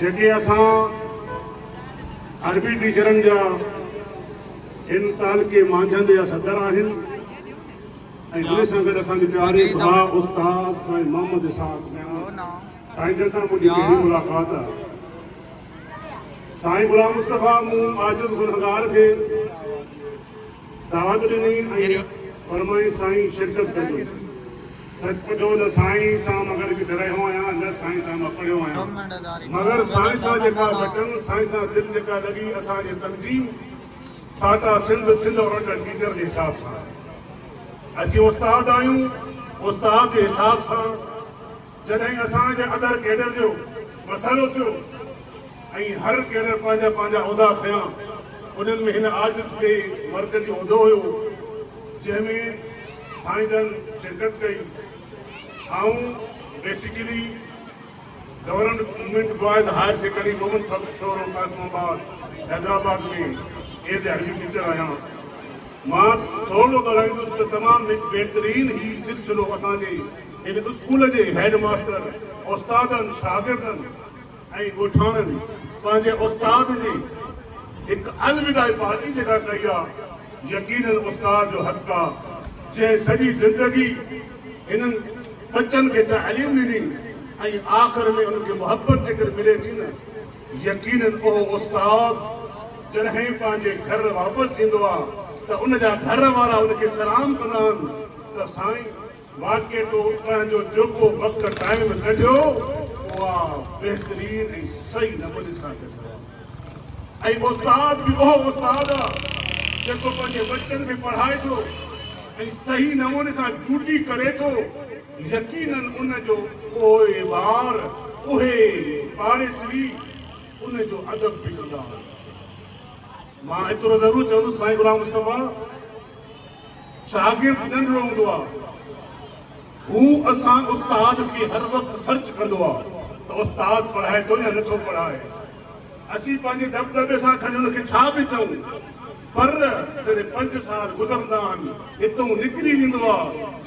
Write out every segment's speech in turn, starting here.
جيڪي اسان عربي ٽيچرن جا هن تعلقي مانجهند جا صدر آهن ۽ انهي سان گڏ اسان جي پياري ڀاء استاد سائين محمد اسحاق ميمڻ سائين جن سان منهنجي پهرين ملاقات آهي سائين غلام مصطفيٰ مون عاجز گنهگار کي دعوت ڏني ۽ فرمائين سائين شرڪت ڪجو. سچ پچو نه سائين سان مگر ڪٿي رهيو آهيان نه سائين سان مان پڙهيو آهيان مگر سائين سان جيڪا وچن سائين سان دل جيڪا لڳي اسان جي تنظيم ساٽا سنڌ سنڌ اورنٽل ٽيچر جي حساب سان اسين استاد آهيون استاد جي حساب سان جڏهن اسان جي اندر ڪيڊر جو مسئلو ٿيو ۽ هر ڪيڊر پنهنجا پنهنجا عهدا کنيا انهن ۾ هن آجت کي مرڪزي عهدو هيو جنهن ۾ سائين جن شرڪت ڪئي آئون basically government boys higher secondary Momin Fakhar Shoro Qasimabad Hyderabad ۾ as a عربي ٽيچر آهيان مان ٿورڙو ڳالهائيندس ته تمام هڪ بهترين هي سلسلو اسان جي هن اسڪول جي هيڊ ماستر، استادن، شاگردن ۽ ڳوٺاڻن پنهنجي استاد جي هڪ الوداعي پارٽي جيڪا ڪئي آ، يقينن استاد جو حق آ، جنهن سڄي زندگي هنن ٻچن کي تعليم ڏني ۽ آخر ۾ انهن کي محبت جيڪر ملي ٿي نه، يقينن اهو استاد جڏهن پنهنجي گهر واپس ٿيندو آ ته ان جا گهر وارا ان کي سلام ڪندا آهن ته سائين! واقعي تو اٿڻ جو جيڪو وقت ٽائيم ڪڍيو اها بهترين ۽ صحيح نموني سان ڪڍيو آهي ۽ استاد به اهو استاد آ جيڪو پنهنجي ٻچن کي پڙهائي ٿو ۽ صحيح نموني سان ڊيوٽي ڪري ٿو يقينن ان جو پوئوار اهي پاڙيسري ان جو ادب به ڪندا آهن. مان ايترو ضرور چوندس سائين غلام مصطفيٰ شاگرد ننڍڙو هوندو آ هو اسان استاد کي هر وقت سرچ ڪندو آ ته استاد پڙهائي ٿو يا نٿو پڙهائي اسين پنهنجي دٻدٻي سان کڻي ان کي ڇا به چئون پر جڏهن پنج سال گذرندا آهن هتون نڪري ويندو آ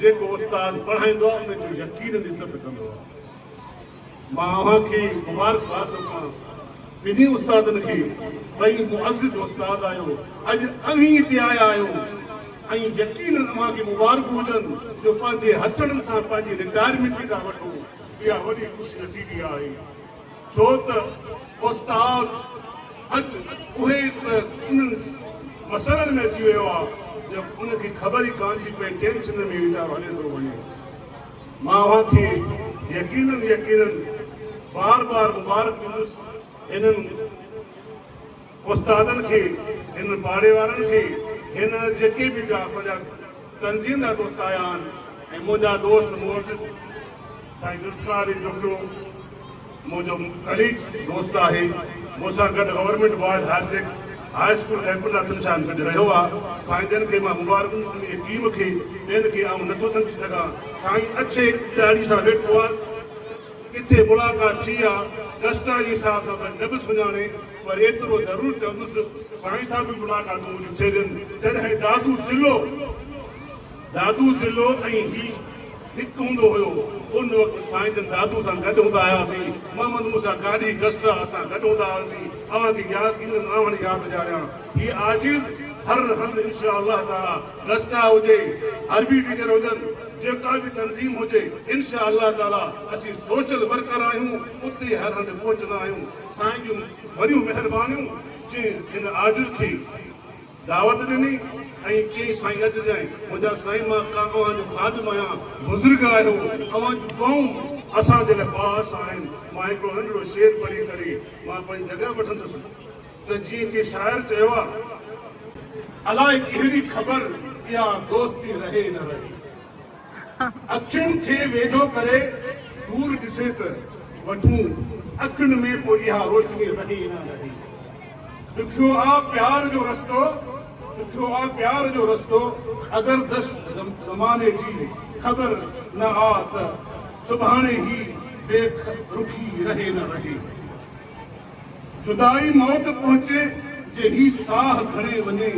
جيڪو استاد پڙهائيندو آ ان جو يقينن عزت ڪندو آ. مان اوهان کي مبارڪباد ٿو ڪيان ٻنهي استادن کي ٻئي معزز استاد آهيو اڄ اوهين هتي آيا آهيو ۽ يقينن اوهان کي مبارڪون هجن جو پنهنجي هٿن سان پنهنجي رٽائرمينٽ ٿا وٺو اها وڏي خوش نصيبي آهي ڇو ته استاد اڄ اهي ته انهن مسئلن ۾ اچي ويو آهي جو ان کي خبر ئي ڪانه ٿي پئي ٽينشن ۾ ويچارو هليو ٿو وڃي. مان اوهان کي يقينن يقينن بار بار مبارڪ ڏيندس هنن استادن کي هنن پاڙي وارن کي هن جيڪي به ٻيا اسان جا تنظيم جا دوست آيا آهن ۽ منهنجا دوست معزز سائين ذوالفقار علي جوکيو منهنجو ڪليگ دوست آهي، مون سان گڏ گورنمينٽ بوائز هائر سيڪ هاء اسڪول خيرپور ناٿن شاهه ۾ گڏ رهيو آ، سائين جن کي مان مبارڪون ۽ ٽيم کي ٻين کي آئون نٿو سمجهي سگهان، سائين اڇي ڏاڙهي سان ويٺو آ، ڪٿي ملاقات ٿي آ، ڊسٽا جي صاحب سان ته نه به سڃاڻي پر ايترو ضرور چوندس ته سائين سان به ملاقاتون منهنجون ٿيل ان، جڏهن دادو ضلعو دادو ضلعو ۽ هي. هڪ هوندو هيو. ان وقت سائين جن دادو سان گڏ هوندا هياسين. محمد موسيٰ گاڏهي ڪسٽرا اسان گڏ هوندا هئاسين. اوهان کي ياد ڪيئن نه آهن ياد ڏياريان. هي عاجز هر هنڌ انشاء الله تعاليٰ ڪسٽرا هجي، عربي ٽيچر هجن، جيڪا به تنظيم هجي انشاء الله تعاليٰ اسين سوشل ورڪر آهيون اتي هر هنڌ پهچندا آهيون. سائين جون وڏيون مهربانيون جنهن هن عاجز کي دعوت ڏني ۽ چيائين سائين اچجانء منهنجا سائين مان ڪا اوهان جو خادم آهيان بزرگ آهيو اوهان جون دعائون اسان جي لاء باعث آهن مان هڪڙو ننڍڙو شعر پڙهي ڪري مان پنهنجي جڳهه وٺندس ته جيئن ڪنهن شاعر چيو آهي. الائي ڪهڙي خبر اها دوستي رهي نه رهي. اکين کي ويجهو ڪري دور ڏسي ته وٺون اکين ۾ پوء اها روشني رهي يا نه رهي. ڏکيو آ پيار جو رستو ڏکيو آ پيار جو رستو اگر دش زماني جي خبر نه آ ته سڀاڻي هي بي رخي رهي نه رهي. جدائي موت پهچي جي هي ساهه کڻي وڃي،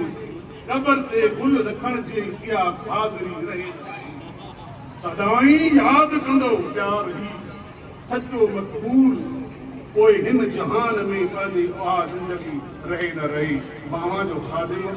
قبر تي گل رکڻ جي اها خاضري رهي ناهي. سدائين ياد ڪندو پيار هي سچو مقبول، پوء هن جهان ۾ پنهنجي اها زندگي رهي نه رهي. مان اوهان جو خادم.